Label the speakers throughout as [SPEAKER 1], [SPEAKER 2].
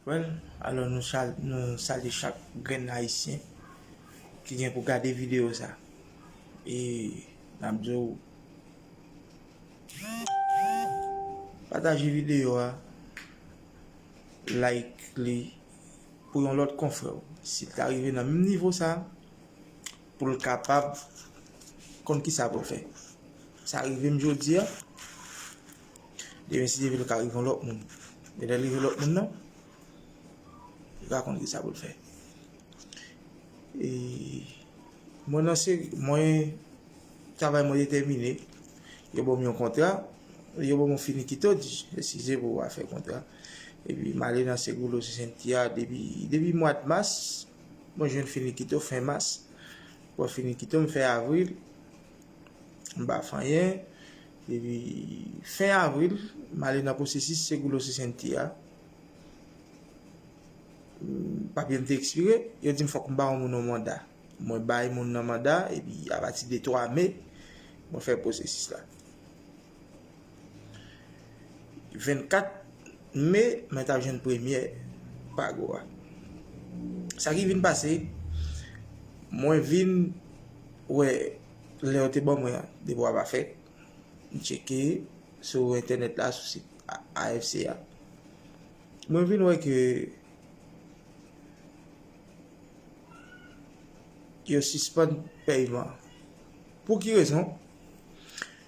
[SPEAKER 1] Well, alò nou salye chak grenn ayisyen ki gen pou gade videyo sa. E nap di w pataje videyo a, like li pou yon lòt konfrè w. Si l ta rive nan menm nivo sa. Pou l kapab konn ki sa pou l fè. Sa rive m jodi a, demen si Dye vle l ka rive yon lòt moun. Men lè l rive lòt moun nan, li pa konn ki sa pou l fè. E mwen nan seri, mwen travay mwen detèmine, yo ban m yon kontra, yo ban m yon finikito, di eskize pou afè kontra. E pi m ale nan Seguros Vicentia depi mwa mas. Mwen jwenn finikito fen mas. Bon finikito m fè avril. M pa fè anyen. Epi fen avril, m ale nan pwosesis Seguro Sesenta a. Papye m te ekspire. Yo di m fòk m ba yon moun yon manda. Mwen bay moun nan manda epi apati de 3 me, mwen fè pwosesis la. 24 Me, mwen tap jwenn premye pago a. Sa ki vin pase, mwen vin wè lè yo te ban mwen an, depo a pa fèt. M cheke sou entènèt la, sou sit AFC a. Mwen vin wè ke yo sispann pèyman. Pou ki rezon?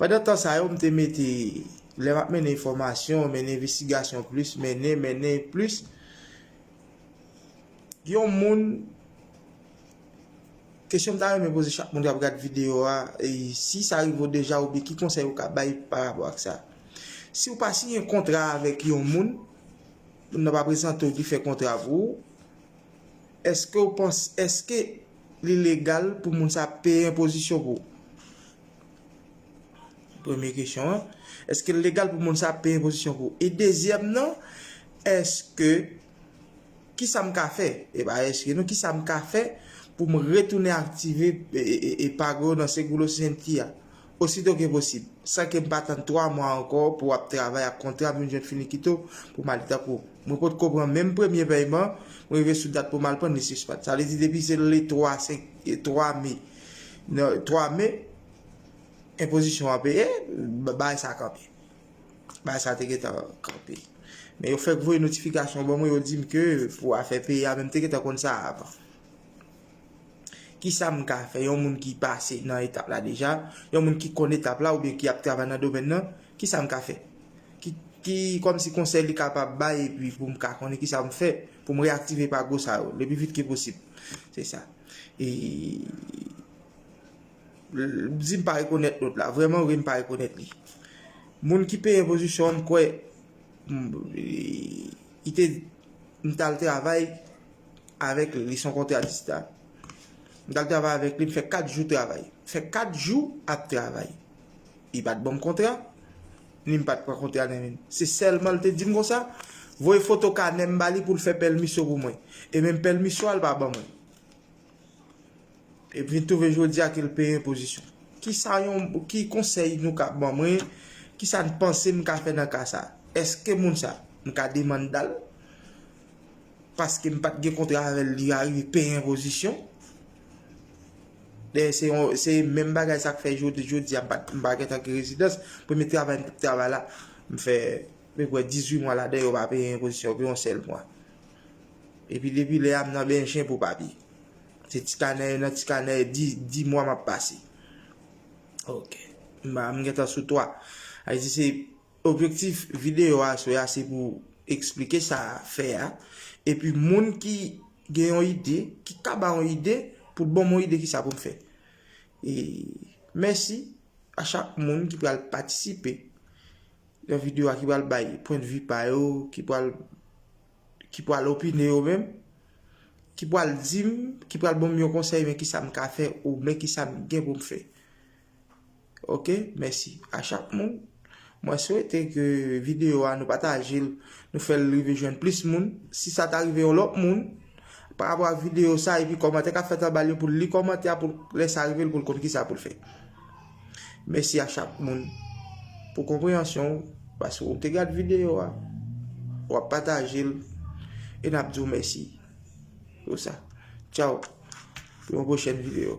[SPEAKER 1] Pandan tan sa yo m te mete lè m ap mennen enfòmasyon, mennen envestigasyon plis, mennen, mennen plis yon moun kesyon m ta renmen poze chak moun k ap gad videyo a si sa rive w deja oubyen ki konsèy ou ka bay pa rapò ak sa si w pa siyen kontra avèk yon moun moun nan pa prezante w ki fè kontra pou ou èske ou panse èske li legal pou moun sa peye enpozisyon pou ou. Premye kesyon an, eske l legal pou moun sa ap peye enpozisyon pou ou? E dezyèm nan, eske, ki sa m ka fè? E pa eske non, ki sa m ka fè pou m retounen aktive epago yo nan Seguros Gentia osito ke posib, san ke m pa tann 3 mwa ankò pou ap travay ak kontra m vin jwenn finikito pou m ale? Tankou, mwen potko pran menm premye pèyman, mwen rive sou dat pou m al pran l, li sispann. Sa vle di depi se le 3 me. 3 me, enpozisyon an peye, bagay sa kanpe. Bagay sa te gentan kanpe. Men yo fèk voye notifikasyon ban mwen, yo di m ke pou afè peye a, men m te gentan konn sa avan. Kisa m ka fè? Yon moun ki pase nan etap la deja, yon moun ki konn etap la oubyen ki ap travay nan domèn nan, kisa m ka fè? Ki kòm si konsèy li kapab bay epi pou m ka konnen kisa m fè pou m reaktive pa gwo sa yo, le pi vit ke posib. Se sa. E M di m pa rekonèt lòt la. Vrèman vre m pa rekonèt li. Moun ki peye pozisyon an m kwè li te m t al travay avèk li. Li se yon kontratista. M t al travay avèk li m fè 4 jou travay. M fè 4 jou ap travay. Li pa t banm kontra. Ni m pa t pran konte a nan men l. Se sèlman l te di m konsa, voye foto kanè m ba li pou l fè pèlmisyon pou mwen. E menm pèlmisyon an l pa ban mwen. E m vin twouve jodi a ke l peye enpozisyon. Ki sa yon, ki konsèy nou ka ban mwen, ki sa n panse m ka fè nan ka sa? Èske moun sa, m ka demanda l? paske m pat gen kontra avèl li arive peye enpozisyon dèyè se yon se menm bagay sak fè jodi jodi a m pat m pa gentan gen rezidans premye travay m t travay la m fè mwen kwè 18 mwa ladan yo pa peye enpozisyon pou yon sèl mwa epi depi lè a m nan bènje pou papye se ti kanè nan ti kanè 10 mwa m ap pase ok m gentan sou 3 a di se Objektif videyo a sou ya se pou eksplike sa a fè a, epi moun ki gen yon ide, ki ka ba yon ide, pou l ban m yon ide ki sa pou m fè. E mèsi a chak moun ki pral patisipe nan videyo a, ki pral bay pwendvi pa yo, ki pral ki pral opine yo menm, ki pral di m, ki pral ban m yon konsèy men ki sa m ka fè, ou men ki sa m gen pou m fè. Ok mèsi a chak moun. Mwen swete ke videyo a nou pataje l, nou fè l rive jwenn plis moun. Si sa ta rive yon lòt moun, pa rapò ak videyo sa epi kòmantè ka fèt anba l yo pou l li kòmantè a pou lè sa rive l pou l konn kisa pou l fè. Mèsi a chak moun pou konpreyansyon ou paske ou te gad videyo a, ou ap pataje l e n ap di w mèsi pou sa. Tchaw pou yon pwochèn videyo.